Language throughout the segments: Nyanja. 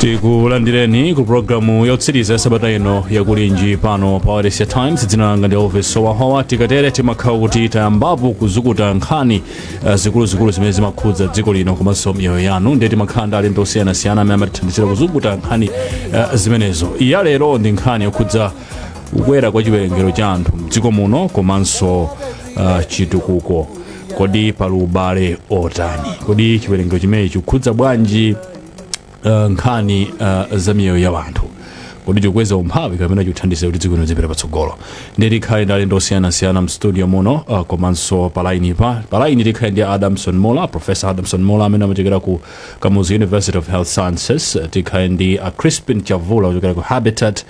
tikulandireni ku programu yotsiriza ya sabata ino ya kulinji pano pa wailesi ya times dzina langa ndi elvis howahowa tikatere timakhala kuti tayambapo kuzukuta nkhani eh, zikuluzikulu zimene zimakhudza dziko lino komanso miyoyo yanu ndiye timakhala ndi alendo osiyanasiyana amene amatithandizira kuzukuta nkhani eh, zimenezo iya lero ndi nkhani yokhudza kukwera kwa chiwerengero cha anthu mdziko muno komanso uh, chitukuko kodi pali ubale otani kodi chiwerengero chimenechi chikukhudza bwanji uh, nkhani uh, za miyoyo ya wanthu kodi chikukweza umphawi kapena chikuthandiza kuti dziko lino lizipita patsogolo ndiye tikhale ndi alendo osiyanasiyana mstudio muno uh, komanso palaini pa palaini tikhale ndi adamson muula professor adamson muula amene amachokera ku kamuzu university of health sciences Uh, tikhale ndi uh, crispin chavula ochokera ku habitat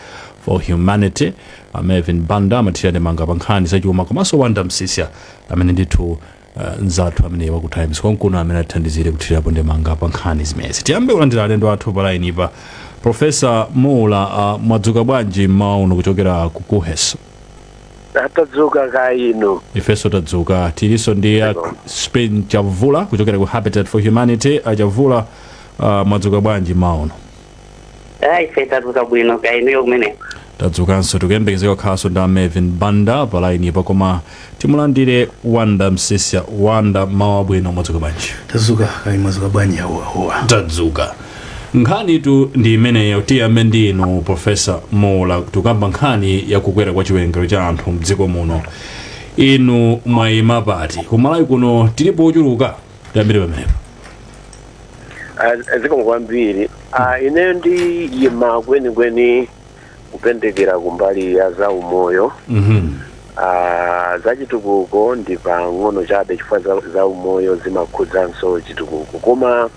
for Humanity, a Marvin Banda amathira ndemanga pa nkhani zachuma komanso Wonder Msiska amene ndithu uh, nzathu amene wa ku Times konkuno amene athandizire kuthirapo ndemanga pa nkhani zimenezi. Tiyambe kulandira alendo athu pa line pa Profesa Muula uh, mwadzuka bwanji mmawa uno kuchokera ku Kuhes. tadzuka kaya inu ifenso tadzuka tilinso ndi a Crispin Chavula kuchokera ku Habitat for Humanity a Chavula uh, mwadzuka bwanji mmawa uno. Ife tadzuka bwino kaya inuyo kumeneko. tadzukanso tikuyembekezeka kukhalanso ndi a marvin banda pa laini pa koma timulandire wonder msiska wonder mmawa wabwino mwadzuka bwanji tadzuka kaya mwadzuka bwanji a howahowa tadzuka nkhanitu ndi imeneyo tiyambe ndi inu profesa muula tikukamba nkhani ya kukwera kwa chiwerengero cha anthu mdziko muno inu mwayima pati kumalawi kuno tilipo ochuluka tiyambire pamenepo Ah, zikomo kwambiri Ah, ine ndiyima kwenikweni kupendekera kumbali ya za umoyo Mhm. Ah, za chitukuko ndi pang'ono chabe chifukwa za, za umoyo zimakhudzanso chitukuko koma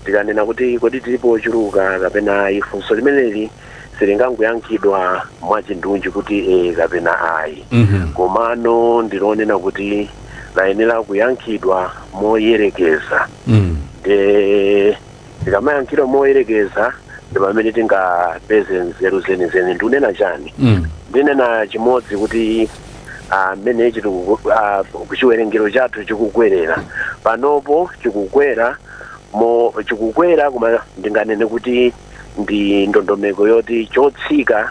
tikanena kuti kodi tilipo ochuluka kapena ayi funso limeneli silingangoyankhidwa mwachindunji kuti ee kapena ayi Mhm. komano ndilonena kuti layenera kuyankhidwa moyerekeza Mm. nde tikamayankhidwa moyerekeza ndi pamene tingapeze nzeru zenizeni ndikunena chani Mm. ndinena chimodzi kuti mmene chiwerengero chathu chikukwerera panopo chikukwera mo chikukwera koma ndinganene kuti ndi ndondomeko yoti chotsika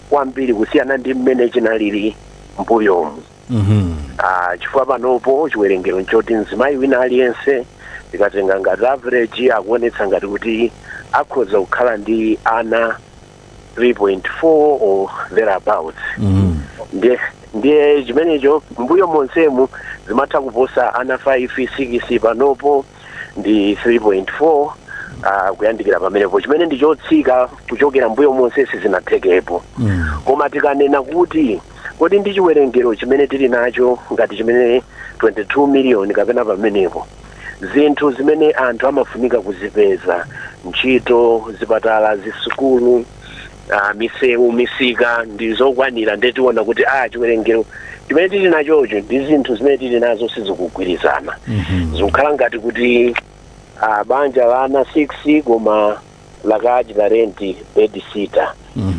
kwambiri kusiyana ndi mmene chinalili mbuyomu Mhm. Ah, chifukwa panopo chiwerengero nchoti mzimayi wina aliyense tikatenga ngati average akuonetsa ngati kuti akhoza kukhala ndi ana 3.4 or thereabouts Mhm. ndiye ndiye chimenecho mbuyo monsemu zimatha kuposa ana 5 6 panopo ndi 3.4 uh, kuyandikira pamenepo chimene ndi chotsika kuchokera mbuyo monsezi zinathekapo Mm. koma tikanena kuti kodi ndi chiwerengero chimene tili nacho ngati chimene 22 miliyoni kapena pamenepo zinthu zimene anthu amafunika kuzipeza ntchito zipatala zisukulu ah, misewu misika ndi zokwanira ndiye tiona kuti a chiwerengero chimene tili nachocho ndi zinthu zimene tili nazo sizikugwirizana zikukhala ngati kuti ah, banja la ana 6 koma lakachita renti bedsitter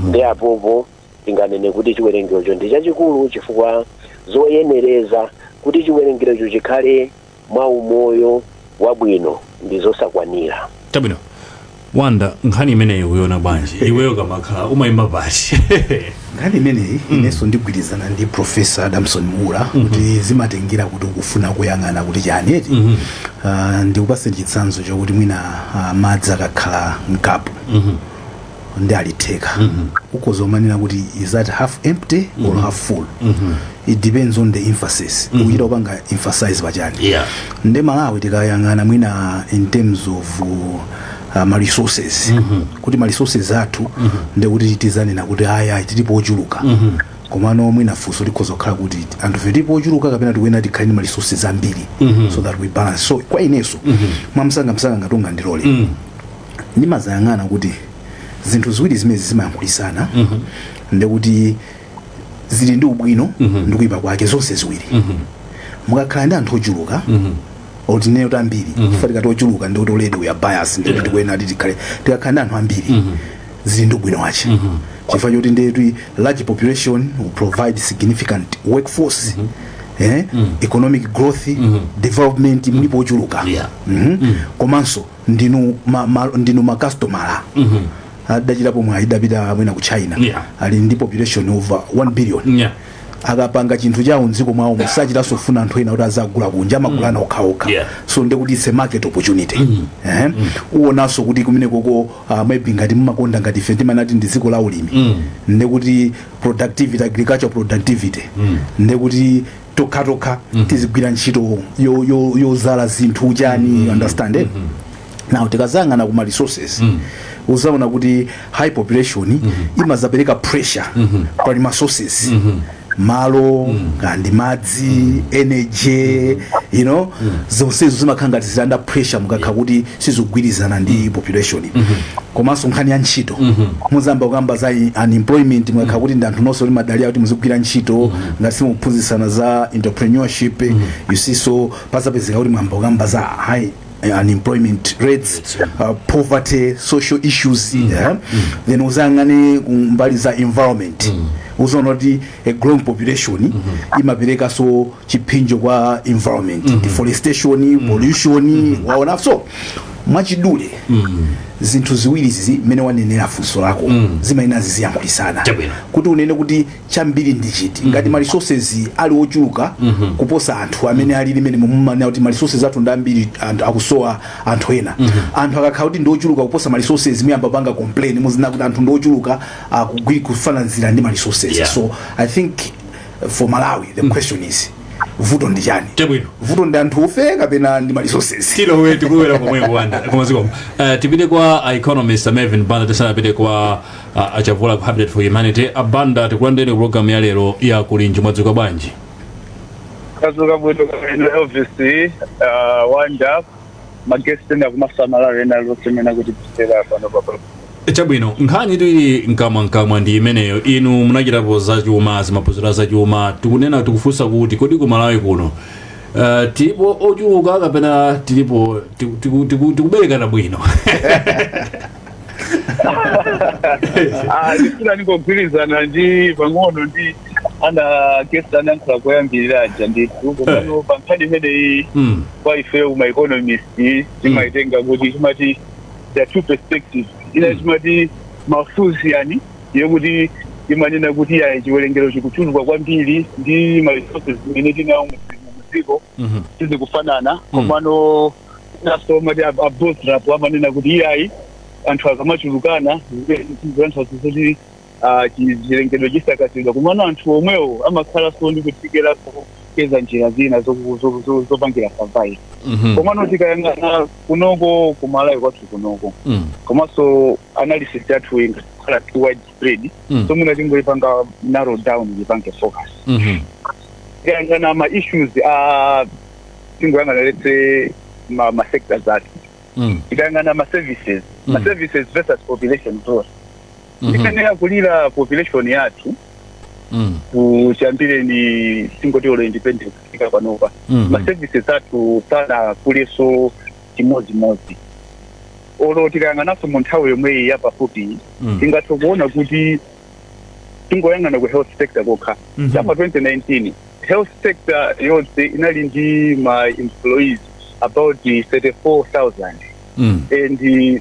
nde apopo tinganene kuti chiwerengerocho ndi chachikulu chifukwa zoyenereza kuti chiwerengerocho chikhale mwa umoyo wabwino ndi zosakwanira. Chabwino. Wanda, nkhani imeneyi uyiona bwanji? Iweyo kamakhala umayima pati. nkhani imeneyi inenso ndigwirizana ndi Professor Adamson Muula kuti zimatengera kuti ukufuna kuyang'ana kuti chani eti Ah, ndikupase chitsanzo chakuti mwina ah, madzi akakhala mkapu ndi ali theka ukhoza umanena kuti is that half empty or half full it depends on the emphasis ukuchita kupanga emphasize pachani Yeah. nde malawi tikayang'ana mwina in terms of uh, ma resources kuti ma resources athu nde kuti tizanena kuti aya tilipo ochuluka komano mwina funso likhoza kukhala kuti anthufe tilipo ochuluka kapena tikuyenera tikhale ndi ma resources ambiri so that we balance so kwa ineyo mwamsangamsanga ngati Wanda ndilole ndimazayang'ana kuti zinthu ziwiri zimenezi zimayankhulitsana mm -hmm. ndekuti zili ndi ubwino mm -hmm. ndi kuyipa kwake zonse ziwiri mm -hmm. mukakhala ndi anthu ochuluka mm -hmm. or tinene kuti ambiri mm -hmm. chifukwa tikati ochuluka ndekuti already we are biased ndikuti yeah. tikuyenera kuti tikhale tikakhala ndi anthu ambiri mm -hmm. zili ndi ubwino wache mm -hmm. chifukwa choti ndekuti large population will provide significant workforce mm -hmm eh? mm. economic growth mm -hmm. development mlipo ochuluka yeah. mm -hmm. mm. komanso ndinu ma, ma, ndinu ma customer mm -hmm. adachitapo mwayi adapita mwina ku China Yeah. ali ndi population over 1 billion Yeah. akapanga chinthu chawo mdziko mwawo osachitanso kufuna anthu ena kuti azagule kunja amagulana okhaokha Yeah. so ndekuti it's a market opportunity Ehe. uonanso kuti kumene koko uh, maybe ngati mumakonda ngati ife timanati ndi dziko la ulimi ndekuti productivity agricultural productivity ndekuti tokhatokha tizigwira ntchito yo- yo- yozala zinthu chani you understand eh? now tikazayang'ana kuma resources uzaona kuti high population imazapereka pressure pa ma resources malo kandi madzi energy you know zonsezo zimakhala ngati zili under pressure mukakha kuti sizikugwirizana ndi population komanso nkhani ya ntchito muzamba kukamba za i- unemployment mukakha kuti ndi anthu nonse mumadalira kuti muzigwira ntchito ngati simukuphunzitsana za entrepreneurship you see so pazapezeka kuti mwamba kukamba za high eh, unemployment rates uh, poverty social issues yeah? then uzayang'ane ku mbali za environment uzaona kuti a growing population imaperekaso chiphinjo kwa environment mm -hmm. deforestation mm -hmm. pollution mm -hmm. waona so mwachidule mm -hmm. zinthu ziwiri izi mmene wanenera funso lako mm -hmm. zimayenera ziziyankhulisana Chabwino. kuti unene kuti chambiri ndi chiti ngati mm -hmm. maresources ali ochuluka mm -hmm. kuposa anthu amene ali ndi mmene mumanena kuti maresources athu ndi ambiri anthu akusowa anthu ena mm -hmm. anthu akakhala kuti ndi ochuluka kuposa maresources muyamba panga complain muzinena kuti anthu ndi ochuluka akugwiri kufananizira ndi maresources Yeah. so i think for malawi the question is vuto ndi chani Chabwino. vuto ndi anthufe kapena ndi ma resources tilowe tikuwera komwe kuwanda kumaziko uh, tipite kwa uh, economist uh, Mervyn banda tisanapite kwa uh, a Chavula ku habitat for humanity a Banda tikulandireni programu ya lero ya kulinji mwadzuka bwanji tadzuka bwino kaya inuyo vc uh, wanja ma guest ena komanso amalawi ena onse amene akutimvetsera pano papa chabwino nkhanitu ili mkamwamkamwa ndi imeneyo inu munachitapo zachuma zamaphunziro a zachuma tikunena tikufunsa kuti kodi ku malawi kuno uh, tilipo ochuluka kapena tilipo tiku- tiku- tiku- tikuberekana bwino ah ndifuna ndingogwirizana ndi pang'ono ndi anakesa anayankhula koyambirira aja ndithu komano pa nkhani imeneyi Mm. kwa ifeyo ma economist timaitenga kuti timati there are two perspectives ina Mm. timati Malthusian yokuti imanena kuti iyayi chiwerengero chikuchuluka kwambiri ndi ma resources zimene tinawo mu dziko Mhm. sizikufanana komano inanso timati a Boserup amanena kuti iyayi anthu akamachulukana zianthu kuti ah, chi- chilengedwe chisakazidwa komano anthu omwewo amakhalanso ndi kuthekera kopeza njira zina zoku- zo- zo- zopangira survive Mhm. komano tikayang'ana kunoko kumalawi kwathu kunoko Mm. komanso analysis yathu ingakhala too widespread Mm. so mwina tingoyipanga narrow down yipange focus Mhm. tikayang'ana ma issues a tingoyang'ana let's say ma, ma sectors athu Mm. tikayang'ana ma services ma Mm. services versus population growth ndi mmene yakulira population yathu Mm. kuchiyambireni tingoti olo independence kufika panopa Mhm. ma services athu sanakulenso chimodzimodzi olo tikayang'ananso mu nthawi yomweyi yapafupi Mm. tingathe kuona kuti tingoyang'ana ku health sector kokha Mhm. chapa 2019 health sector yonse inali ndi ma employees about 34000 Mm. and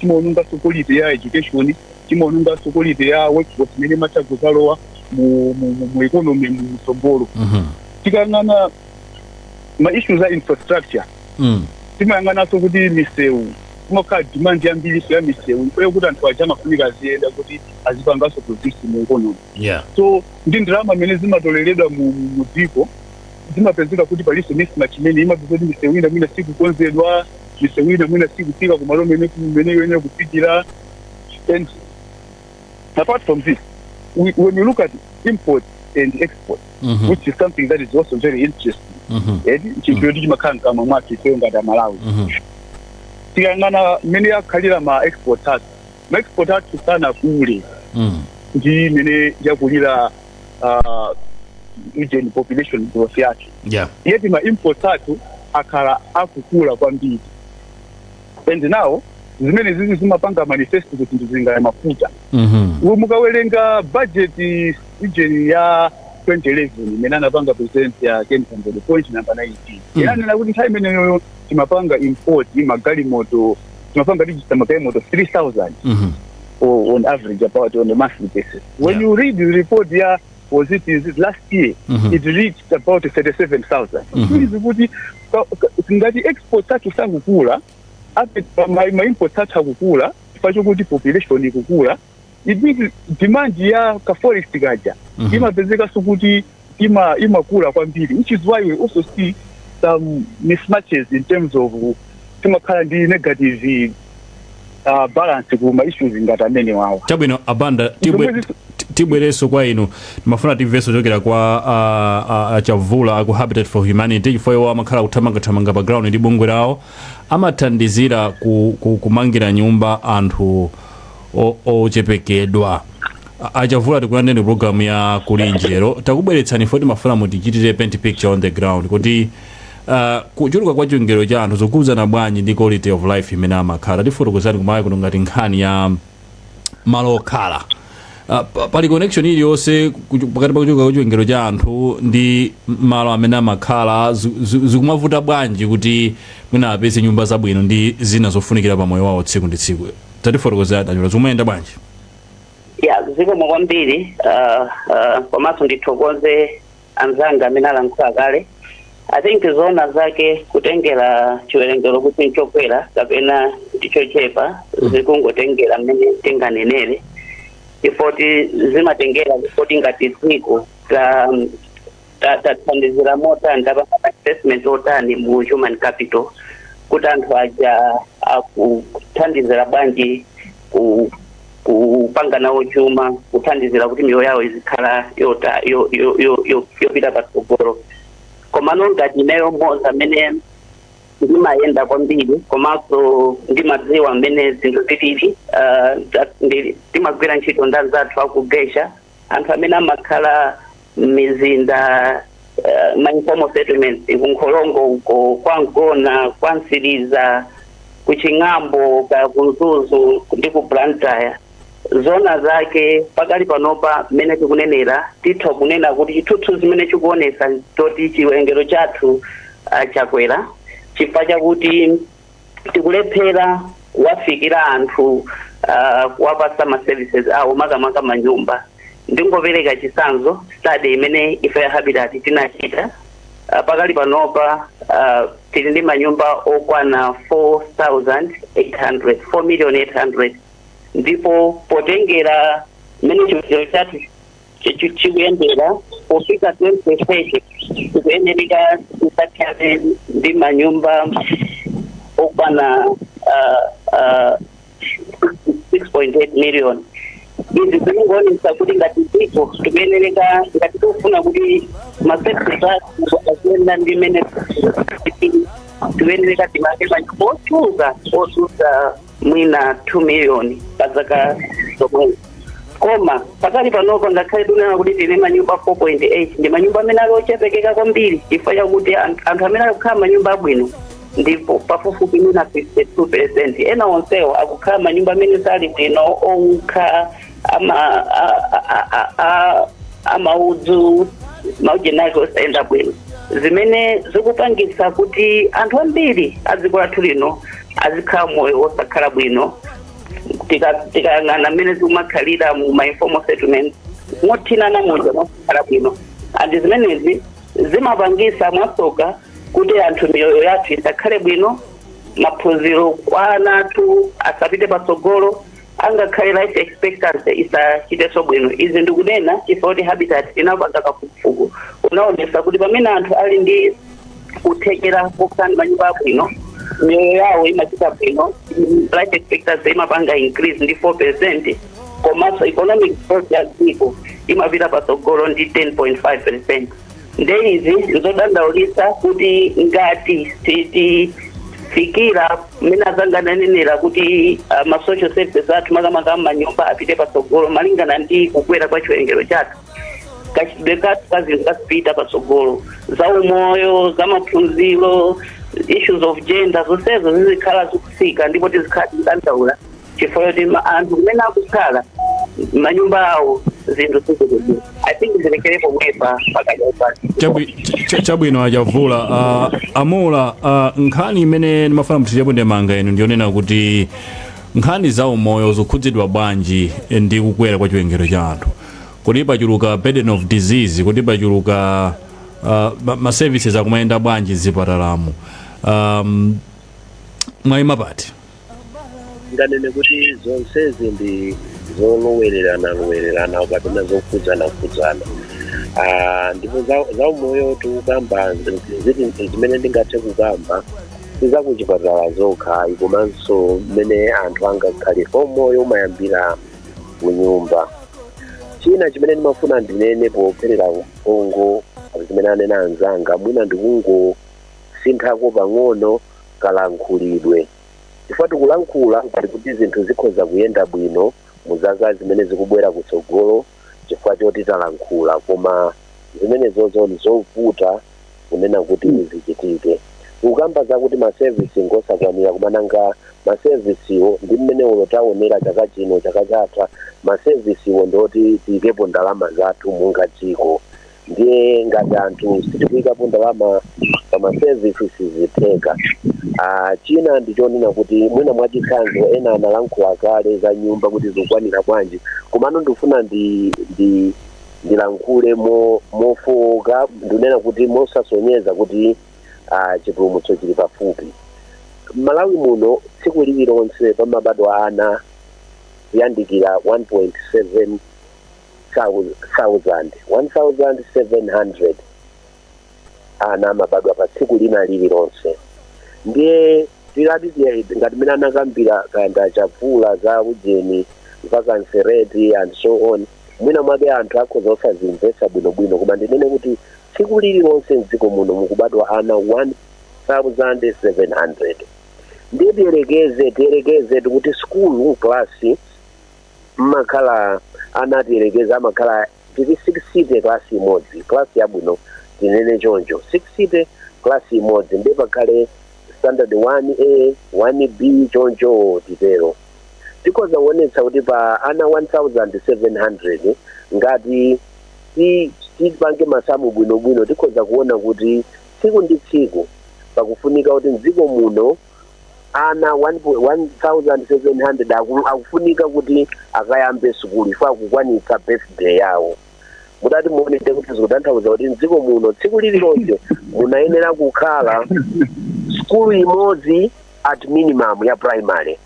chimaononganso quality ya education chimaononganso quality ya workforce imene imatha kudzalowa mu, mu, mu, mu economy mu mtsogolo Mhm. tikayang'ana ma issues a infrastructure Mm. timayang'ananso kuti misewu kumakhala demand yambirinso ya misewu ifoyo kuti anthu aja amafunika aziyenda kuti azipanganso produce mu economy Yeah. so ndi ndalama zimene zimatoleredwa mu mu- mu dziko zimapezeka kuti palinso mismatch imene imapezeka kuti misewu ina mwina sikukonzedwa misewu ina mwina sikufika kumalo mmene kumene ikuyenera kufikira and apart from this we, when you look at import and export Mhm. which is something that is also very interesting Mhm. ndi chinthu choti chimakhala mkamwa mwathu ifeyo ngati aMalawi Mhm. tikayang'ana mmene akhalira ma export athu ma export athu sanakule Mm. ndi mmene yakulira uh, ujeni population growth yathu yeah yeti ma imports athu akhala akukula kwambiri and now zimenezizi zimapanga manifest kuti ndizinena za mafuta mhm Uwe mukawerenga budget ujeni ya 2011 imene anapanga present a Ken Kandodo point number 19 Mm. inanena kuti nthawi imeneyoyo timapanga import magalimoto timapanga register magalimoto 3000 mhm o- on average about on a monthly basis When yeah. you read the report ya was it is it last year mm -hmm. it reached about 37000 mm -hmm. it means kuti ngati export athu sakukula ape ma import athu akukula chifukwa chokuti population ikukula it means demand ya ka forex kaja mm -hmm. imapezekanso kuti ima imakula kwambiri which is why we also see some mismatches in terms of timakhala ndi negative uh, balance ku ma issues ngati amenewawa chabwino a Banda tibwe- Zomwe zis- ti- tibwerenso kwa inu timafuna timvenso kuchokera kwa ah, ah, a Chavula aku Habitat for Humanity chifukwa iwo amakhala akuthamangathamanga pa ground ndi bungwe lawo amathandizira ku, ku, kumangira nyumba anthu o- ochepekedwa A- a Chavula tikulandireni pa programu ya Kulinji lero takubweretsani poti timafuna mutichitire paint picture on the ground kuti uh, kuchuluka kwa chiwerengero cha anthu zikukhudzana bwanji ndi quality of life imene amakhala tifotokozereni makamaka kuno ngati nkhani ya malo okhala Uh, pa- pali connection iliyonse kuchu- pakati pa kuchuluka kwa chiwerengero cha anthu ndi m- malo amene amakhala zi- zi- zikumavuta bwanji kuti mwina apeze nyumba zabwino ndi zina zofunikira pa moyo wawo tsiku ndi tsiku tatifotokozera tachola zikumayenda bwanji ya zikomo kwambiri uh, uh, komanso ndithokoze anzanga amene alankhula kale i think zoona zake kutengera chiwerengero kuti nchokwera kapena ndichochepa zikungotengera mmene tinganenere chifukwa choti zimatengera kuti ngati dziko ta ta- tathandizira motani tapanga investment otani mu human capital kuti anthu aja akuthandizira bwanji ku- kupanga nawo chuma kuthandizira kuti miyoyo yawo izikhala yota- yo- yo- yo- yo- yopita patsogolo komano ngati ineyo mmodzi amene ndimayenda kwambiri komanso ndimadziwa mmene zinthu zilili ah, ta- ndi- timagwira ntchito ndi anzathu akugesha anthu amene amakhala m'mizinda eh, ma informal settlements ku nkholongo uko kwa mgona kwa mtsiriza ku ching'ambo ka ku mzuzu ndi ku blantyre zona zake pakali panopa mmene tikunenera titha kunena kuti chithunzithunzi chimene chikuonesa choti chiwerengero chathu ah, chakwera chifukwa chakuti tikulephera kuwafikira anthu uh, kuwapasa ma services awo makamaka manyumba ndingopereka chisanzo study imene ife ya habitat tinachita uh, pakali panopa uh, tili ndi manyumba okwana 4800 4 million 800 ndipo potengera mmene chiwerengero chathu chikuyendera pofika 2030 tikuyenereka tizakhale ndi manyumba okwana uh, uh, 6.8 million izi zikungoonesa kuti ngati dziko tikuyenereka ngati tikufuna kuti ma services athu aziyenda ndiye kuti tikuyenereka timange manyumba ochuluka ochuluka mwina 2 million pa zaka zomwe koma pakali panopa ngakhale tunena kuti tili ndi manyumba 4.8 ndi manyumba amene ali ochepekera kwambiri chifukwa chakuti an- anthu amene akukhala manyumba abwino ndi pafupifupi mwina 52 percent ena onsewo akukhala manyumba amene sali bwino owukha ama a- a- a- a- amaudzu maujeni ake osayenda bwino zimene zikupangitsa kuti anthu ambiri a dziko lathu lino azikhala moyo wosakhala bwino Tika- tikayang'ana mmene zikumakhalira mu ma informal settlement mothinana muja mosakhala bwino and zimenezi zimapangisa mwasoka kuti anthu miyoyo yathu isakhale bwino maphunziro kwa ana athu asapite patsogolo angakhale life expectancy isachiteso bwino izi ndikunena chifukwa kuti habitat inapanga kafukufuku unaonesa kuti pamene anthu ali ndi kuthekera kokhala ndi manyumba abwino miyoyo yawo imachita bwino life expectancy imapanga increase ndi 4 percent komanso economic growth ya dziko imapita patsogolo ndi 10.5 percent nde izi nzodandaulitsa kuti ngati sitifikira mmene azanga ananenera kuti ma social services athu makamaka m'manyumba apite patsogolo malingana ndi kukwera kwa chiwerengero chathu kachitidwe kathu ka zinthu kasipita patsogolo za umoyo za maphunziro issues of gender zonsezo zizikhala zikutsika ndipo tizikhala tikudandaula chifukwa choti ma- anthu kumene akukhala manyumba awo zinthu sizikuti I think ndilekere pomwepa pakadya pano Chabwi- ch- ch- chabwino achavula uh, amula uh, nkhani imene ndimafuna muthirepo ndemanga inu ndiyonena kuti nkhani za umoyo zikukhudzidwa bwanji ndi kukwera kwa chiwerengero cha anthu kuti pachuluka burden of disease kuti pachuluka uh, ma- ma services akumayenda bwanji mzipatalamo um, mwayima pati ndinganene kuti zonsezi ndi zolowererana lowererana kapena zokhudzana khudzana Ah, ndipo za- za umoyo tikukamba ziti zimene ndingathe kukamba sizakuchipatala zokha komanso mmene anthu angakhale umoyo umayambira kunyumba china chimene ndimafuna ndinene popherera mphongo zimene anena anzanga mwina ndikungosinthako pang'ono kalankhulidwe chifukwa tikulankhula ngati kuti zinthu zikhoza kuyenda bwino mu zaka zimene zikubwera kutsogolo chifukwa choti talankhula koma zimenezozo ndi zovuta kunena kuti zichitike tikukamba zakuti masevisi ngosakwanira koma nanga masevisiwo ndi mmene ulo taonera chaka chino chaka chatha masevisiwo ndioti tiyikepo ndalama zathu monga dziko ndiye ngati anthu sitikuyikapo ndalama pa ma services sizitheka Ah, china ndichonena kuti mwina mwachitsanzo ena analankhula kale za nyumba kuti zikukwanira bwanji komano ndifuna ndi ndi ndilankhule mo- mofowoka ndinena kuti mosasonyeza kuti ah, chipulumutso chili pafupi m'malawi muno tsiku lililonse pamabadwa ana kuyandikira 1.7 thousand, one thousand seven hundred ana amabadwa pa tsiku lina lililonse ndiye tilati tiye- ngati mene anakambira kanda chavula za ujeni vacancy rate and so on mwina mwake anthu akhoza osazimvetsa bwinobwino koma ndinene kuti tsiku lililonse mdziko muno mukubadwa ana 1700 ndiye tiyerekeze tiyerekeze tikuti skulu klasi mmakhala ana tiyerekeze amakhala titi sixty class imodzi class yabwino tinene choncho sixty class imodzi ndiye pakhale standard 1a 1b choncho titero tikhoza kuonetsa kuti pa ana 1700 ngati ti- tipange masamu bwinobwino tikhoza kuona kuti tsiku ndi tsiku pakufunika kuti mdziko muno ana 1700 aku- akufunika kuti akayambe sukulu iwo akukwanitsa birthday yawo mutati muonete kuti zikutanthauza kuti mdziko muno tsiku lililonse munayenera kukhala sukulu imodzi at minimum ya primary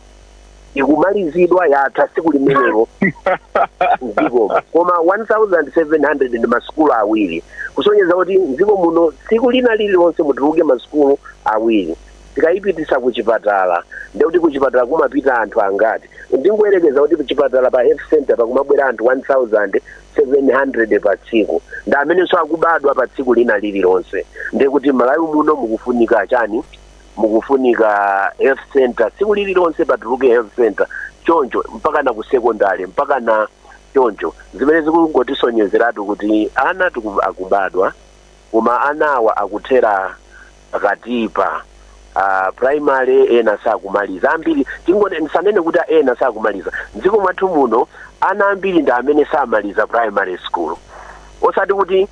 ikumalizidwa yatha tsiku limenelo mdziko koma 1700 ndi masukulu awiri kusonyeza kuti mdziko muno tsiku lina lililonse mutuluke masukulu awiri tikayipititsa kuchipatala ndiye kuti kuchipatala kumapita anthu angati ndingoyerekeza kuti kuchipatala pa health center pakumabwera anthu 1700 pa tsiku ndi amenenso akubadwa pa tsiku lina lililonse ndiye kuti malawi muno mukufunika chani mukufunika health center tsiku lililonse patuluke health center choncho mpaka na ku secondary mpaka na choncho zimene zikungotisonyezeratu kuti ana tiku- akubadwa koma anawa akuthera pakatipa uh, primary ena sakumaliza ambiri tingone ndisanene kuti ena sakumaliza mdziko mwathu muno ana ambiri ndi amene samaliza primary school osati kuti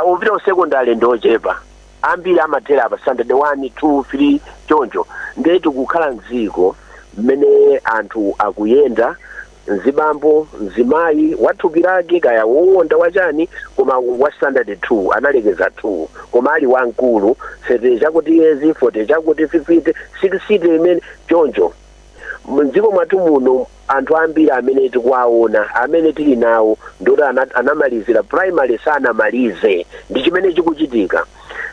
uh, opita ku secondary ndi ochepa ambiri amathera pa standard 1 2 3 choncho nde tikukhala mdziko mmene anthu akuyenda Mzibambo, mzimayi, wa thupi lake, kaya wowonda, wa chani, koma wa standard 2, analekeza 2, koma ali wamkulu, 30 chakuti yezi, 40 chakuti, 50, 60 imene, choncho. Mdziko mwathu muno anthu ambiri amene tikuwaona, amene tili nawo, ndi oti anamalizira primary, sanamalize. Ndi chimene chikuchitika.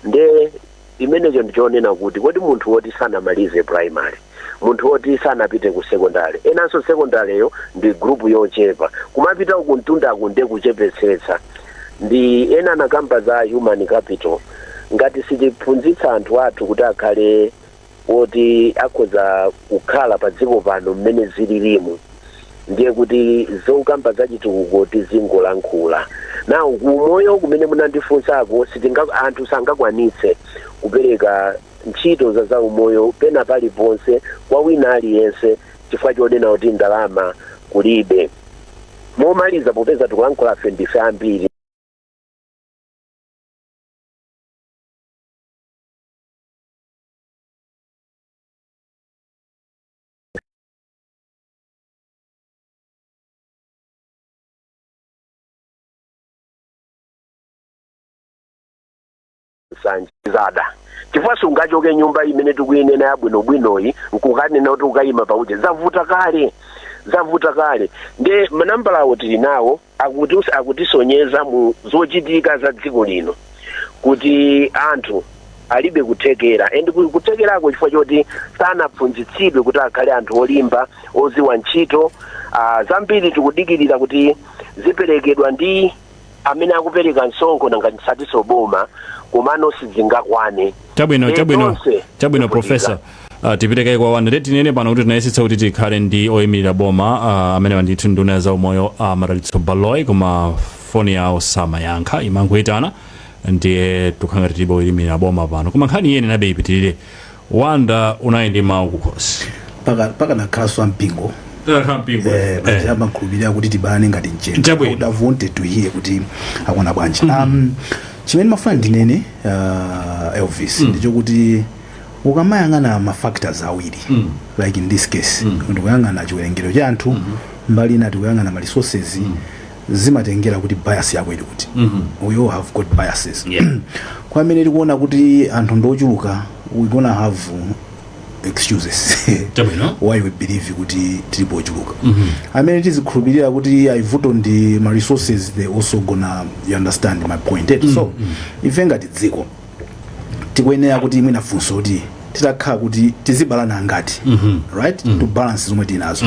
Nde. Imenecho ndi chonena kuti, kodi munthu woti sanamalize primary, munthu woti sanapite ku secondary, enanso secondary'yo ndi group yochepa, kumapita uku mtundaku ndiye kuchepetsetsa, ndi ena anakamba za human capital, ngati sitiphunzitsa anthu athu kuti akhale. woti akhoza kukhala padziko pano mmene zililimu ndiye kuti zokamba za chitukuko tizingolankhula nawo kumoyo kumene munandifunsako sitinga anthu sangakwanitse kupereka ntchito za zaumoyo pena paliponse kwa wina aliyense chifukwa chonena kuti ndalama kulibe momaliza popeza tikulankhula afe ndife ambiri nsanje zada chifukwa sungachoke nyumba imene tikuyinena yabwinobwinoyi nkumanena kuti ukayima pauje zavuta kale zavuta kale nde manambalawo tili nawo akutisonyeza mu zochitika za dziko lino kuti anthu alibe kuthekera and ku- kuthekerako chifukwa choti sanaphunzitsidwe kuti akhale anthu olimba oziwa ntchito ah, zambiri tikudikirira kuti ziperekedwa ndi amene akupereka msonkho nanga tisatinso boma komano sizingakwane chabwino Ndiye chabwino tonse chabwino tikuvutika. profesa uh, tipite kaye kwa Wanda tinene pano kuti tinayesetsa kuti tikhale ndi oyimirira boma uh, amene ndi ndithu nduna ya zaumoyo uh, a Madalitso Baloyi koma foni yawo samayankha imangoyitana ndiye tikhala ngati tilibe oyimirira boma pano koma nkhani iyeyi nayenabe ipitirire Wanda unali ndi mawu kukhosi pakanakhalanso ampingo eh, paja amakhulupirira kuti tibalane ngati mchenga Chabwino. Would have wanted to hear kuti akona bwanji um, Chimene ndimafuna ndinene uh, Elvis mm. ndichokuti ukamayang'ana ma factors awiri mm. like in this case mm. ndikuyang'ana chiwerengero cha anthu mm -hmm. mbali ina tikuyang'ana ma resources mm. zimatengera kuti bias yako ili kuti mm -hmm. we all have got biases yeah. kwa amene tikuona kuti anthu ndiochuluka we gonna have excuses Chabwino. why we believe kuti tilipo ochuluka amene tikukhulupirira kuti ayi vuto ndi ma resources they also gonna you understand my point eti so ife ngati dziko tikuyenera kuti mwina funso kuti titakhala kuti tizibalana ngati right to balance zomwe tinazo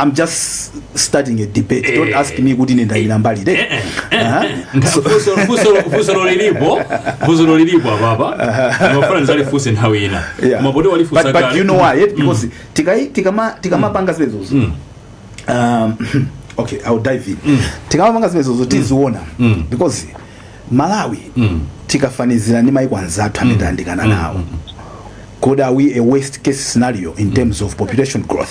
I'm just starting a debate. Don't Eh. ask me kuti ine ndayimira mbali iti. Aha. So- Fuso- fuso- fusolo lilipo fusolo lilipo apapa mmafuna ndizalifuse nthawi ina Yeah. koma poti walifusa but, but kale. you know why eh? because tikai- tikama- tikamapanga zimenezozo um, okay ill dive in tikamapanga zimenezozo tiziona because malawi tikafanizira ndi maiko anzathu amene tayandikana nawo could are we a worst case scenario in terms of population growth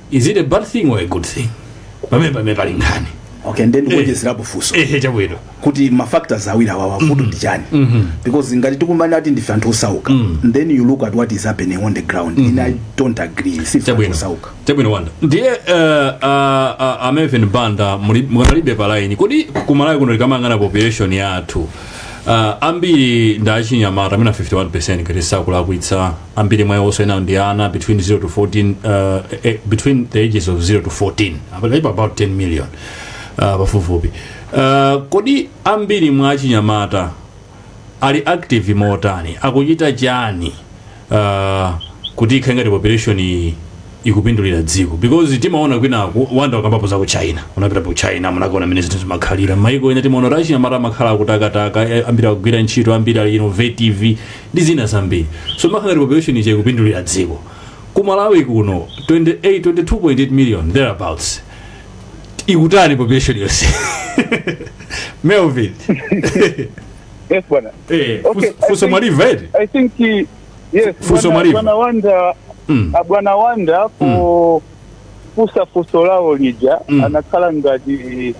is it a bad thing or a good thing pamene pamene pali nkhani okay ndiye ndikuonjezerapo funso ehe chabwino kuti ma factors awiri awawa vuto ndi chani because ngati tikukamba kuti ndife anthu osauka then you look at what is happening on the ground and i don't agree si anthu chabwino osauka chabwino wanda ndiye eh, a- a- a Melvin banda muli- mukanalibe pa line kodi kumalawi kuno tikamayang'ana population yathu ah, ambiri ndi achinyamata amene 51 percent ngati sakulakwitsa ambiri mwa iwonso amenewo ndi ana between 0 to 14 uh, eh, between the ages of 0 to 14 apatu apa about 10 million uh, pafupifupi uh, kodi ambiri mwa achinyamata ali active motani akuchita chani uh, kuti ikhale ngati population iyi ikupindulira dziko because timaona kwinaku wanda wakambapo za ku china unapita ku china munakaona mmene zinthu zimakhalira maiko ena timaona kuti achinyamata amakhala akutakataka eh, ambiri akugwira ntchito ambiri ali innovative ndi zina zambiri so imakhala ngati population ija ikupindulira dziko ku malawi kuno 28 22.8 million thereabouts ikutani population yonse melvin Yes, bwana. eh, Okay, funs- I funso think- mwalimva eti I think uh, yes, Funso bwana- mwalimva. bwana Wanda Mm. ah, bwana Wanda pofunsa funso lawo lija Mm. anakhala ngati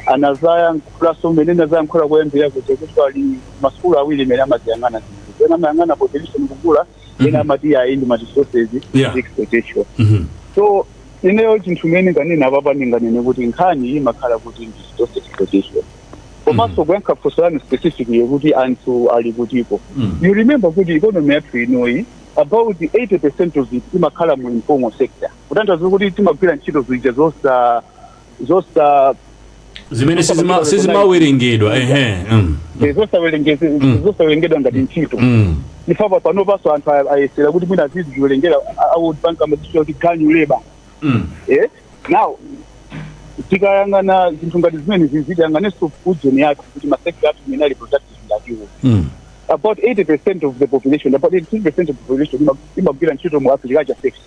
anazayankhula so mmene anazayankhula kuyambira kuti kuti ali masukulu awiri imene amaziyang'ana zinthu ena amayang'ana population kukula ena amati ayi ndi ma resources Yeah. ndi exploitation Mhm. so ineyo chinthu imene ndinganene apapa ndinganene kuti nkhani imakhala kuti ndi resource exploitation komanso kuyankha funso lanu specifically kuti anthu ali kutiko Mm. you remember kuti economy yathu inoyi about 80 percent of it imakhala mu informal sector kutanthauza kuti timagwira ntchito zija zosa zosa zimene sizima- sizimawerengedwa ehe mm, eh, zosawerengezi- zosawerengedwa ngati ntchito mm, ndipo panopanso anthu a- ayesera kuti mwina aziziwerengera a World Bank amazitchula kuti ganyu labour mm, eh? now tikayang'ana zinthu ngati zimenezi tiyang'anenso ujeni yathu kuti masekta athu imene ali productive ndi atiwo mm, about 80% of the population about 80% of the population ima- imagwira ntchito mu agriculture sector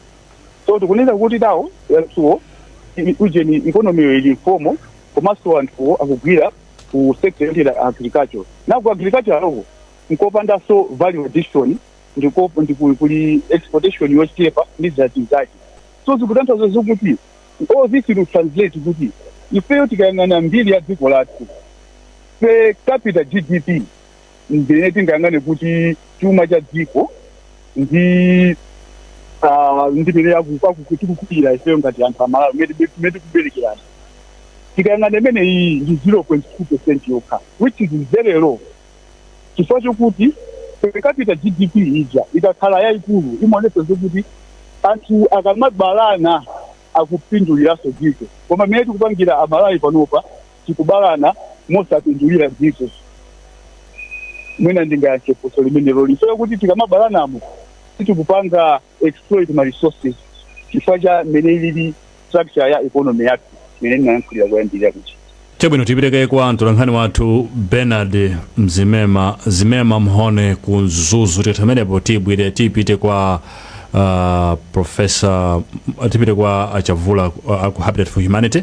so tikunena kuti nawo anthuwo i- ujeni ikonomiyo ili informal komanso anthuwo akugwira ku sector yoti ya agriculture na ku agriculture lokha n'kopandanso value addition ndiko ndi ku- kuli exploitation yochepa ndi zina zake so zikutanthauza zokuti all this will translate kuti ifeyo tikayang'ana mbiri ya dziko lathu per capita gdp ndine tingayang'ane kuti chuma cha dziko ndi ah, ndi mmene tikukulira ifeyo ngati anthu amalawi mmene tikuberekerana tikayang'ana imene iyi ndi 0.2 percent yokha which is very low chifukwa chokuti per capita gdp ija ikakhala yayikulu imaonesa zokuti anthu akamabalana akupinduliranso dziko koma mmene tikupangira amalawi panopa tikubalana mosapindulira dziko mwina ndingayankhe funso limeneloli zokuti tikamabalanamo sitikupanga exploit ma resources chifukwa cha mmene ilili structure ya economy yathu mmene ndinayankhulira kuyambirira kuti chabwino tipiteko kwa mtolankhani wathu bernard mzimema zimema mhone ku mzuzu tikatha pamenepo tibwere tipite kwa uh, profesa tipite kwa achavula uh, aku habitat for humanity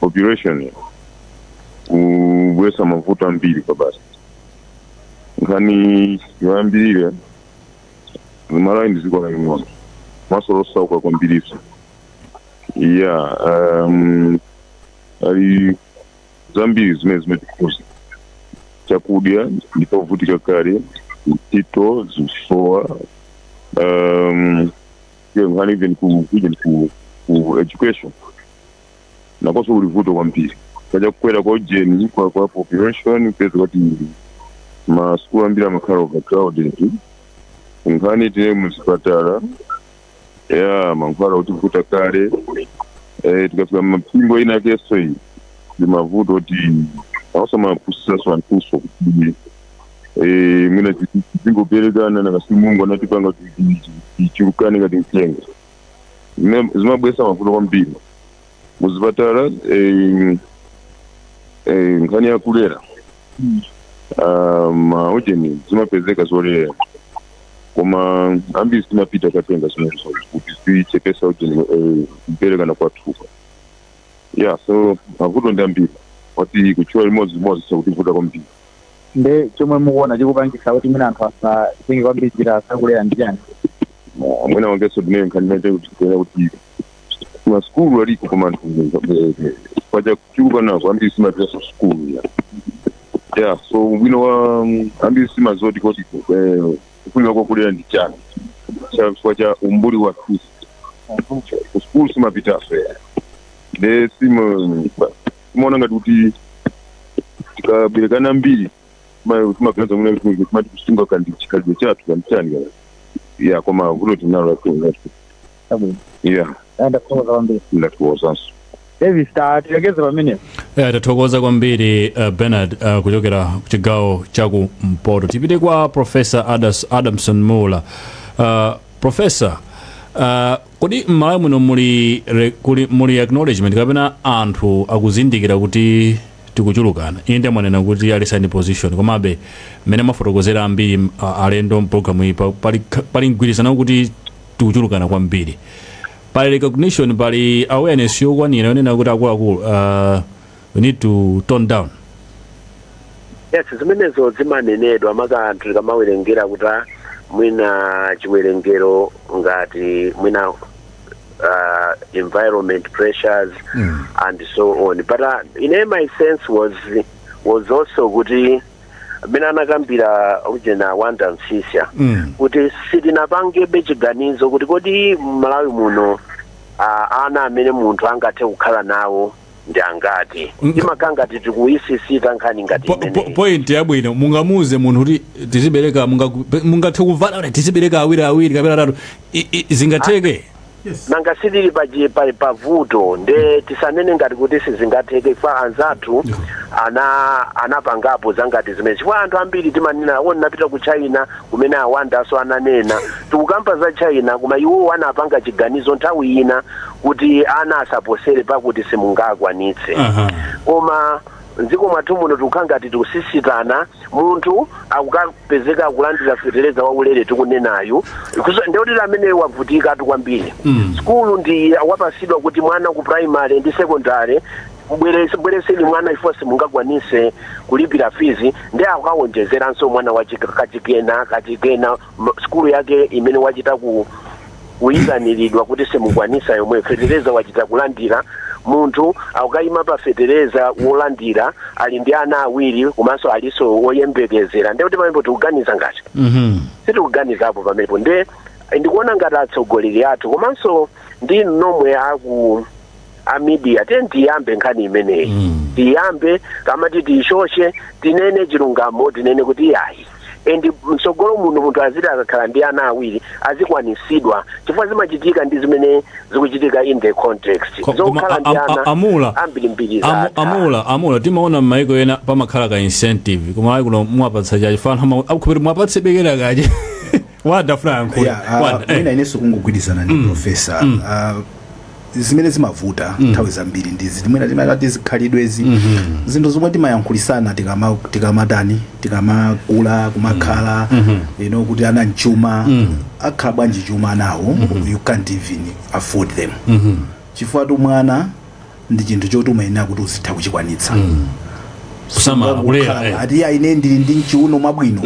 population ikubwesa mavuto ambiri chifukwa basi nkhani yoyambirira Malawi ndi ziko laling'ono komaso losauka kwambiriso ya um, ali zambiri zimene zimatikhuza chakudya ndi chovutika kale ntchito zikusowa um, iyo nkhani even ku ujeni ku, ku education nakoso kuli vuto kwambiri chifukwa cha kukwera kwa ujeni kwa kwa population kupeza kuti masukulu ambiri amakhala overcrowded nkhani tinene muzipatala ya mankhwala ikutivuta kale eh, tikafika mipingo inayakeso iyi ndi mavuto kuti awonso amapusitsaso anthuso kuti eh, mwina tizingoberekana nanga si mulungu anatipanga kuti tichulukane ngati mchenga zimene zimabwesa mavuto kwambiri muzipatala eh, eh, nkhani ya kulera ah, maujeni zimapezeka zolera koma ambiri samapita kukatenga zimenezo kuti zichepese ujeni eh, kuberekana kwa anthu pa ya so mavuto ndi ambiri oti kutchula limodzi limodzi akutivuta kwambiri nde chomwe mukuona chikupangisa kuti mwina anthu asatenge kwambiri njira zakulera ndi chani mwina wangeso ndinene kuti kuona kuti masukulu aliko koma anthu chifukwa cha kuchuluka nako ambiri samapitaso sukulu ya yeah so ubwino wa mm, ambiri samaziwa kuti eh, kufunika kwakulera ndi chani Cha- chifukwa cha umbuli wa anthu kusukulu samapitaso ya nde sima timaona ngati kuti tikaberekana ambiri timaganiza muna timati kusunga kandi chikhalidwe chathu kanditani kana ya koma vuto tinalo lakuati Abwino. ya Ndathokoza kwambiri. Ndathokozanso Davis tatilekeze pamenepo. Eh, tathokoza kwambiri uh, bernard uh, kuchokera kuchigawo chaku mpoto tipite kwa profesa Adas, adamson muula uh, profesa uh, Kodi mmalawi muno muli re, kuli, muli acknowledgement kapena anthu akuzindikira kuti tikuchulukana? Inde mwanena kuti alisani position komabe mmene mwafotokozera ambiri a alendo mprogram iyi pa, pali, pali mgwirizano kuti tikuchulukana kwambiri. Pali recognition, pali awareness yokwanira yonena kuti akuluakulu a. we need to tone down yes zimenezo zimanenedwa maka anthu tikamawerengera kuti ah, mwina chiwerengero ngati mwina uh, environment pressures mm. and so on but uh, ine my sense was was also kuti mmene anakambira ujena wanda msisya Mm. kuti sitinapangebe chiganizo kuti kodi mmalawi muno uh, ana amene munthu angathe kukhala nawo ndi angati Mm. imakhala ngati tikuisisita nkhani ngati Po- po- imeneyi point yabwino mungamuuze munthu kuti tizibereka munga- mungathe kuvala kuti tizibereka awiri awiri kapena atatu I- i- zingatheke nanga sitili pa chi- pa- pa vuto nde tisanene ngati kuti sizingatheke kwa anzathu ena anapangapo zangati zimenezi chifukwa anthu ambiri timanena o ndinapita ku china kumene a Wanda-so ananena tikukamba za China koma iwowo anapanga chiganizo nthawi ina kuti ana asaposere pakuti simungakwanitse Aha. koma mdziko mwathu muno tikukhala ngati tikusisitana munthu akukapezeka akulandira fetereza waulere tikunenayu Kuso- nde kuti amene wavutikatu kwambiri Mm. skulu ndi wapasidwa kuti mwana ku primary ndi secondary Mbweretse bweretseni mwana chifukwa simungakwanise kulipira fees nde akawonjezeranso mwana wa chik kachikena kachikena ma sukulu yake imene wachita ku kuyitanilidwa kuti simukwanisa yomweyo fetereza wachita kulandira munthu akayima pa fetereza wolandira ali ndi ana awiri komanso alinso woyembekezera nde kuti pamenepo tikuganiza ngati sitikuganizapo pamenepo nde ndikuona ngati atsogoleri athu komanso ndi inu nomwe aku a media tiyeni tiyambe nkhani imeneyi Mm. tiyambe kamati tiyishoshe tinene chilungamo tinene kuti yayi and mtsogolo muno munthu aziti akakhala ndi ana awiri azikwanisidwa chifukwa zimatheka ndi zimene zikuchitika in the context Ko- koma zokhala a- ndi a- ana a- amula ambirimbiri amu- zatha. amula amula timaona m'maiko ena pamakhala ka incentive koma ayi kuno mwapatsa chachi fana akukhupiri mwapatse bekera kache wada fula yankhula Yeah, ah, wada mwina eh. inenso kungogwirizana ndi profesa Ah, zimene zimavuta nthawi zambiri ndi izi mwina timati zikhalidwezi zinthu zomwe timayankhulisana tikama- tikamatani tikamakula kumakhala you know kuti ana nchuma akhala bwanji chuma anawo you can't even afford them chifukwa tu mwana ndi chinthu choti umayenera kuti uzitha kuchikwanitsa mm. kusamala kulera eh. ati ya ine ndili ndi mchiuno mwabwino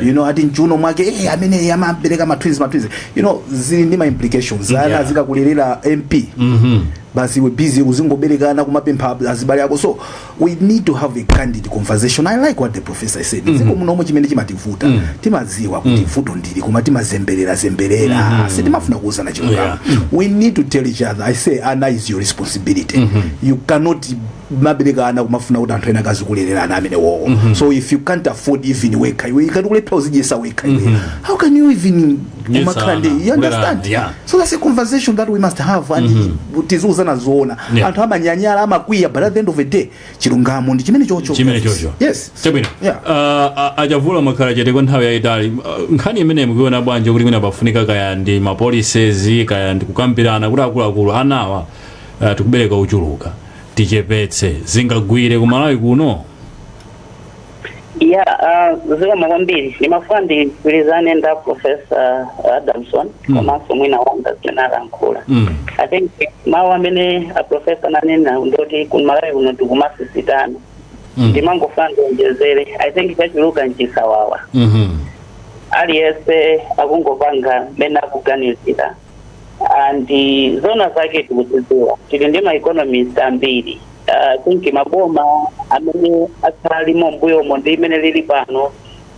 you know ati mchiuno mwake eh amene amabereka ma twins ma twins you know zili ndi ma implications yeah. ana zikakulerera MP mm -hmm. basi iwe busy uzingoberekana kumapempha azibale ako so we need to have a candid conversation i like what the professor said mm -hmm. dziko munomo chimene chimativuta mm -hmm. timadziwa kuti mm -hmm. vuto ndili koma timazembelera zembelera mm -hmm. sitimafuna kuuzana chilungamo yeah. mm -hmm. we need to tell each other i say ana is your responsibility mm -hmm. you cannot mabereka ana kumafuna kuti anthu ena akazikulelera ana amenewowo mm -hmm. so if you can't afford even wekha iwe ukulephera kuzidyetsa wekha iwe mm -hmm. how can you even umakhala ndi you understand yeah. so that's a conversation that we must have and mm -hmm. tiziuzana zoona yeah. anthu amanyanyala amakwiya but at the end of the day chilungamo ndi chimene chocho chimene chocho yes chabwino yeah. uh, a Chavula makhala chete kwa nthawi yayitali uh, nkhani imeneyi mukuiona bwanji kuti mwina pafunika kaya ndi mapolicies kaya ndi kukambirana kuti akuluakulu anawa uh, tikubereka uchuluka tichepetse zingagwire ku Malawi kuno ya uh, zikomo kwambiri ndimafuna ndigwirizane ndi a profesa adamson Mm. komanso mwina Wonder zimene alankhula Mm. i think mawu amene aprofesa ananena ndoti ku Malawi kuno tikumasisitana Mm. ndimangofuna ndionjezere i think chachuluka nchisawawa Mhm. aliyense akungopanga mmene akuganizira and zona zake tikuzidziwa tili ndi maeconomist ambiri uh, think maboma amene akhala alimo mbuyomo ndi imene lili pano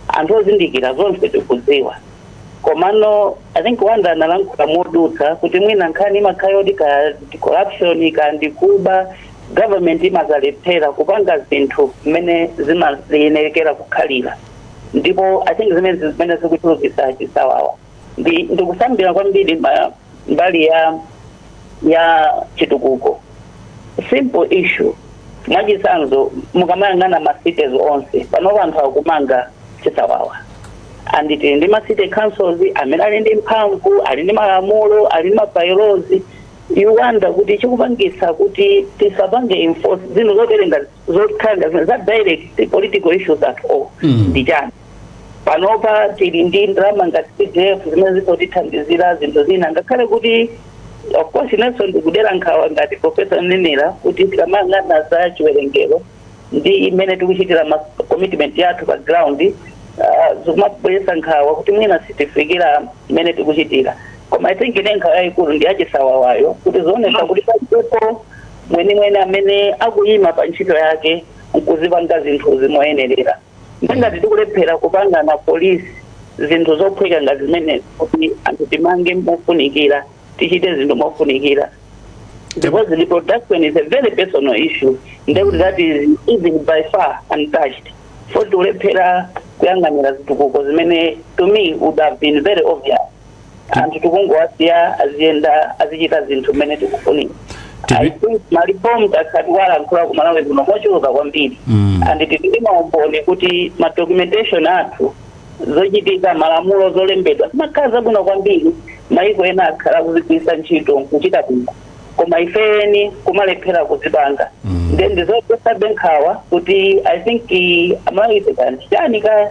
anthu ozindikira zonse tikudziwa komano i think Wonder analankhula modutsa kuti mwina nkhani imakhala yoti ka ndi corruption ka ndi kuba government imazalephera kupanga zinthu mmene zimayenekera kukhalira ndipo i think zimenezi zimene zikuchulukitsa chisawawa ndi ndikusandira kwambiri ma- mbali ya ya chitukuko simple issue mwachitsanzo mukamayang'ana ma cities onse panopa anthu akumanga chisawawa and tili ndi ma city councils amene ali ndi mphamvu ali ndi malamulo ali ndi ma bylaws you wonder kuti chikupangitsa kuti tisapange enforce zinthu zoterenga zothanda zimene zili direct si political issues at all Mm. ndi chani panopa tili ndi ndalama ngati CDF zimene zikutithandizira zinthu zina ngakhale kuti of course inenso ndikudera nkhawa ngati profesa anenera kuti tikamayang'ana za chiwerengero ndi mmene tikuchitira ma commitment yathu pa ground uh, zikumabweretsa nkhawa kuti mwina sitifikira mmene tikuchitira koma i think ine nkhawa yayikulu ndi yachisawawayo kuti zikuonetsa kuti palibepo mwenimweni amene akuyima pa ntchito yake nkuzipanga zinthuzi moyenerera. Nde ngati tikulephera kupanga ma police zinthu zophweka ngati zimenezi kuti anthu timange mofunikira, tichite zinthu mofunikira because reproduction is a very personal issue nde kuti that is even by far untouched for tikulephera kuyang'anira zitukuko zimene to me would have been very obvious anthu tikungowasiya aziyenda azichita zinthu mmene tikufunira Tipi- I think malifomu takhala tikuwalankhula kumalawi kuno mochuluka kwambiri Mm. and tili maumboni kuti ma documentation athu zochitika malamulo zolembedwa zimakhala zabwino kwambiri maiko ena akhala kuzigwiritsa ntchito nkuchita bwino koma ifeni kumalephera kuzipanga Mm. then ndizopatsabe nkhawa kuti i think eh, amalawi ife kanthu chani ka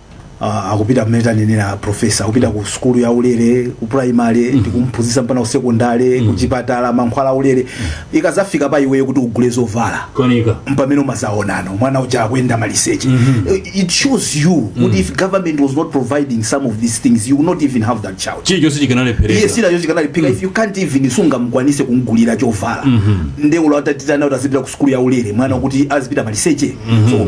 uh, akupita mmene anenera profesa akupita ku sukulu ya ulere ku primary ndi kumphunzitsa mpaka ku sekondale ku chipatala mankhwala a ulere ikazafika pa iweyo kuti ugule zovala koma ndi pamene umazaonano mwana uja akuyenda maliseche Eh, it shows you kuti if government was not providing some of these things you would not even have that child chilichonsecho chikanalephereka sinacho chikanaliphika if you can't even sungamukwanise kumgulira chovala nde olo atatitana kuti azipita ku sukulu ya ulere mwana kuti azipita maliseche so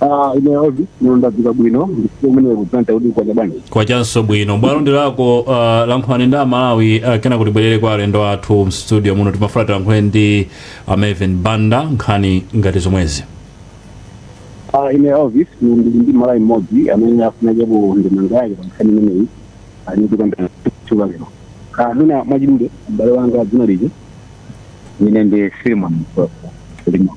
Ah, ine ozi ndadzuka bwino ndikuti umene kudzanta kuti kwacha bwanji kwachanso bwino bwalo ndi lako uh, lankhulani ndi amalawi uh, kenaka tibwerere kwa alendo athu mstudio muno timafuna tilankhule ndi a Maven Banda nkhani ngati zomwezi Ah, ine ozi ndili ndi mmalawi mmodzi amene afuna aikepo ndemanga yake pa nkhani imeneyi ali ndikambira chuka lero Ah, mwina mwachidule m'bale wanga dzina lija ine ndi filimon filimon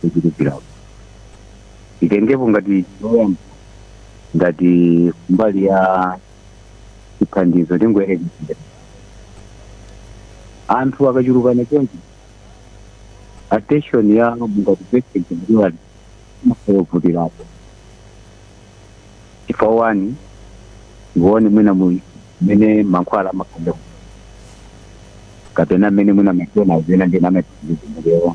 kuchulukirapo titengepo ngati choyamba ngati mbali ya chithandizo tingoyerekeza anthu akachulukana chonchi attention ya ngati patient ndiwali imakayovutirapo chifukwa amayang'ana mwina mu- mmene mankhwala amakonda kapena mmene mwina machena azina ndina amatizimbulewa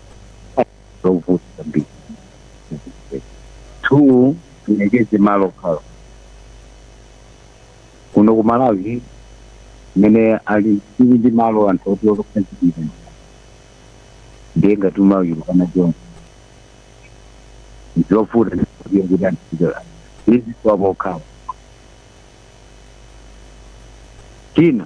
zovuta zambiri two tiyerekeze malo okhala kuno ku malawi mmene ali tili ndi malo anthu oti okupezekira ndiye ngati timachulukana zonse zovuta ndikuya kuti antichitola izi kwapokhapa china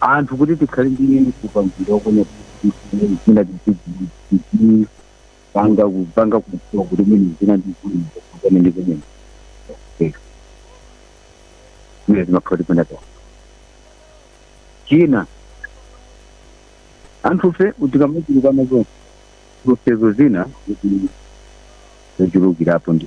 anthu kuti tikhale ndi upangiri wakuona kuti zina tizizi panga kupanga kudziwa kuti mwina zina ndi zina kuzana ndi zimene zimene zimakhala tipena pa china anthufe tikamachulukana zonse zovutazo zina kuti zochulukirapo ndi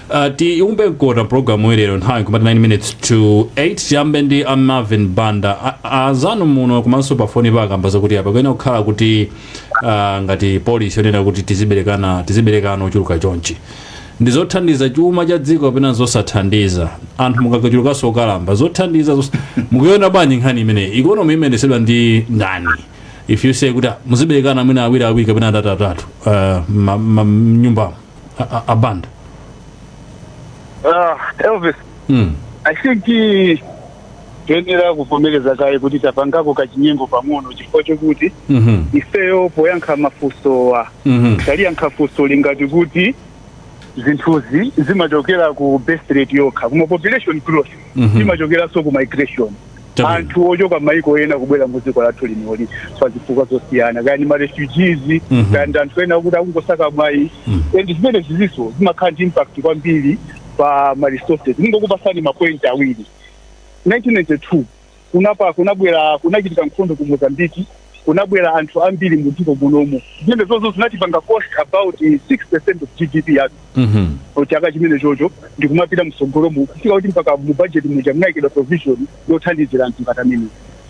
Uh, tiumbe mkota programu ilero nthawi kumati 9 minutes to 8 tiyambe ndi a Marvin Banda A- a- azanu muno komanso pafoni akamba zakuti apa kuyenera kukhala kuti uh, ngati polisi yonena kuti tiziberekana tiziberekana ochuluka chonchi ndi zothandiza chuma cha dziko kapena zosathandiza anthu mukachulukanso okalamba zothandiza zos... mukuiona bwanji nkhani imeneyi ikonomi imayezedwa ndi ndani if you say kuti ah, muziberekana mwina awiri awiri kapena atatu atatu uh, ma- ma- mnyumbamo a, a, a Banda Ah, Elvis mm. I think eh, tiyenera kuvomereza kaye kuti tapangako kachinyengo pang'ono chifukwa chokuti mm ifeyo poyankha mafunsowa -hmm. taliyankha funso lingati kuti zinthuzi zimachokera ku birth rate yokha koma population growth Mhm. zimachokeranso ku migration Chabwino. anthu ochoka maiko ena kubwera mu dziko lathu linoli pa zifukwa zosiyana kaya ndi marefugees Mhm. kaya ndi anthu ena kuti akungosaka mwayi Mhm. and zimene zizinso zimakhala ndi impact kwambiri pa ma resources ndingokupasani mapoint awiri 1992 kunapa kunabwera kunachitika nkhondo ku Mozambique kunabwera anthu ambiri mu dziko munomu zimene izozo zinatipanga cost about 6 percent of GDP yathu Mhm. mu chaka chimene chocho ndikumapita msogolomu kufika kuti mpaka mu budget muja munaikidwa provision yothandizira anthu ngati amene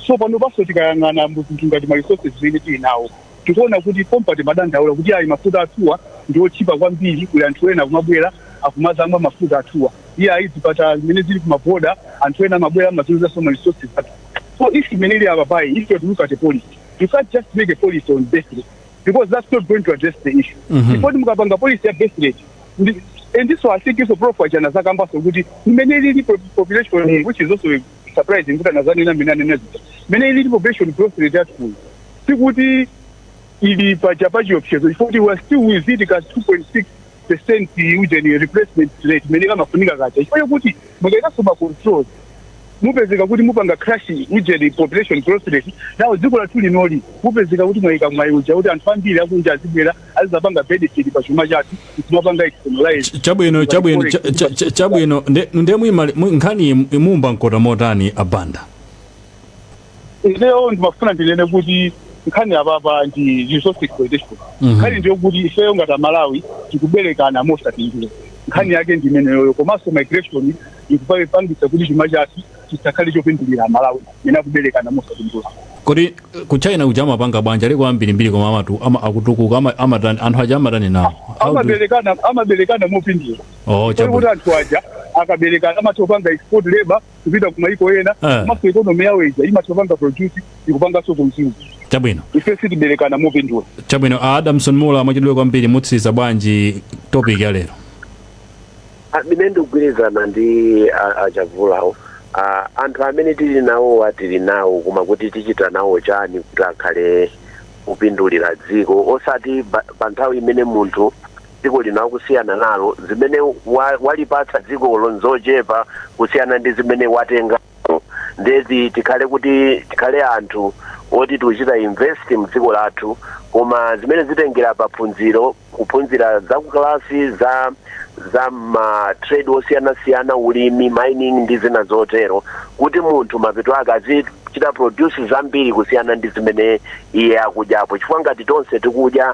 so pano panso tikayang'ana mu zinthu ngati ma resources zimene tili nawo tikuona kuti pompano madandaula kuti ayi mafuta athuwa ndi otchipa kwambiri kuli anthu ena akumabwera akumazamwa mafuta athuwa iye ayi zipatala zimene zili kumaboda anthu ena amabwera amazagwiritsanso ma resources athu So issue imene ili apa apayi if you are to look at a policy you can't just make a policy on birth rate because that's not going to address the issue Mhm. ndipo mukapanga policy ya birth rate ndi- and this one I think inso prof Chijana azakambanso kuti imene ilili po- population eh, which is also surprising kuti anazanena mmene anena zija imene ilili population growth rate yathu sikuti ili paja pachiopsezo chifukwa we are still within ka 2.6 percent ujeni replacement rate imene kamafunika kaja chifukwa chokuti mukaikanso ma controls mupezeka kuti mupanga crash ujeni population growth rate ndiye dziko lathu linoli mupezeka kuti mwaika mwayi uja kuti anthu ambiri akunja azibwera azizapanga benefit pa chuma chathu kumapanga externalize chabwino chabwino cha- cha- cha- chabwino nde nde muima- mu- nkhani imu- muimba mkota motani a Banda ineyo ndimafuna ndinene kuti nkhani yapapa ndi resource exploitation Mhm. nkhani ndi yoti ifeyo ngati amalawi tikuberekana mosapindula nkhani yake ndi imeneyoyo komanso migration ikupangitsa kuti chuma chathu chisakhale chopindulira amalawi imene akuberekana mosapindula kodi ku China kuja amapanga bwanji aliko ambirimbiri koma amatu ama- akutukuka ama- amatani anthu aja amatani nawo How do- amaberekana amaberekana mopindula oh, kuti chabu- kuti anthu aja akaberekana amatha kupanga export labor kupita ku mayiko ena Eh. komanso ikonomi yawo ija imatha kupanga produce ikupanganso consume chabwino ife sitiberekana mopindula chabwino a Adamson Muula mwachidule kwambiri mutsiriza bwanji topic ya lero amene ndikugwirizana ndi a- a Chavulawo Ah, anthu amene tili nawowa tili nawo koma kuti tichita nawo chani kuti akhale kupindulira dziko osati ba- pa nthawi imene munthu dziko lino akusiyana nalo, zimene wa, walipatsa dzikolo nzochepa kusiyana ndi zimene watenga nde kuti tikhale kuti tikhale anthu oti tikuchita invest mdziko lathu koma zimene zitengera pa maphunziro kuphunzira za kukalasi za za ma trade osiyanasiyana ulimi mining ndi zina zotero kuti munthu mapeto ake azichita produce zambiri kusiyana ndi zimene iye akudyapo chifukwa ngati tonse tikudya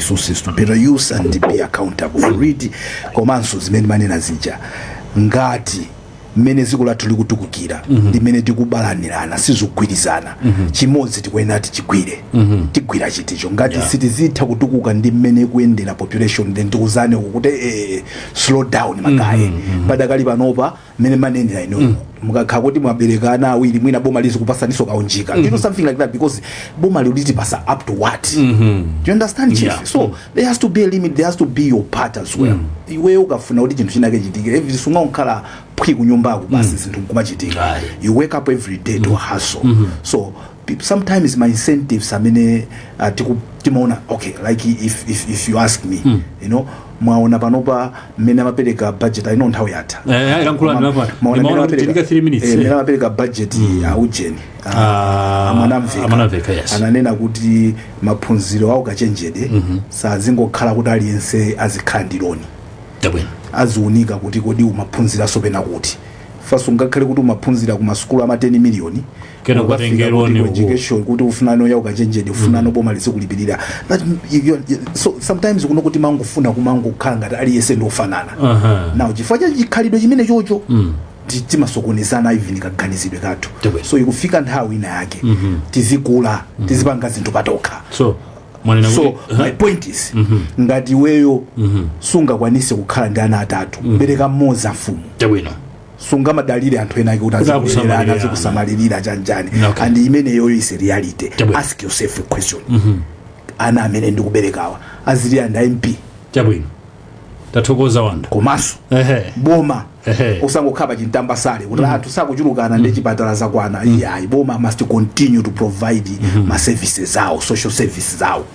resources to better use and be accountable for it komanso zimene mumanena zija ngati mmene dziko lathu likutukukira mm -hmm. ndi mmene tikubalanirana sizikugwirizana mm -hmm. chimodzi tikuyenera tichigwire mm -hmm. tigwira chiticho ngati yeah. sitizitha kutukuka ndi mmene ikuyendera population then tiuzane kuti eh, slow down magaye mm -hmm. padakali panopa mmene mmanenera inu mukakhala kuti mwabereka ana awiri mwina boma lizikupasaniso kaunjika you know something like that because boma lizitipasa up to what do you understand chief Yeah. so there has to be a limit there has to be your part as well iweyo ukafuna kuti chinthu chinake chichitike sungangokhala phwi kunyumbako basi zinthu nkumachitika Aye. you wake up every day to hustle so people sometimes ma incentives amene eh, uh, tiku timaona okay like if if if you ask me mm. you know mwaona panopa mmene amapereka budget i know nthawi yatha Eh, lankhulani Ma- lapano. maona Ndimaona mmene kuti ndika three minutes. eh, mmene amapereka budget ya ujeni ah, Ah, amanamveka amanamveka, yes. ananena kuti maphunziro a ukachenjede sazingokhala kuti aliyense azikhala ndi loni Chabwino. aziunika kuti kodi umaphunzira zopena kuti first ngakhale kuti umaphunzira ku masukulu ama 10 miliyoni Kenako Ukafika tengeroni kuti ku uko. education kuti ufuna no ya ukachenjede ufuna no boma lizikulipirira that you- you- so sometimes kuno kuti mangofuna kumangokhala ngati aliyense ndi ofanana Aha. now chifukwa cha chikhalidwe chimene chocho ti- timasokonezana even kaganizidwe kathu Tibwe. so ikufika nthawi ina yake tizikula tizipanga zinthu patokha so mwanena so kuti my point is ngati iweyo sungakwanise kukhala ndi ana atatu bereka mmodzi amfumu tabwino sungamadalire anthu ena ake kuti Kuti akusamalirira. azikulerana azikusamalirira cha njani Okay. and imeneyoyo is a reality Chabwino. ask yourself a question ana amene ndikuberekawa azili and mp chabwino tathokoza wanda komanso ehe boma Ehe. osangokhala pa chintamba sale kuti anthu sakuchulukana ndi chipatala zakwana iyayi boma must continue to provide ma services awo social services awo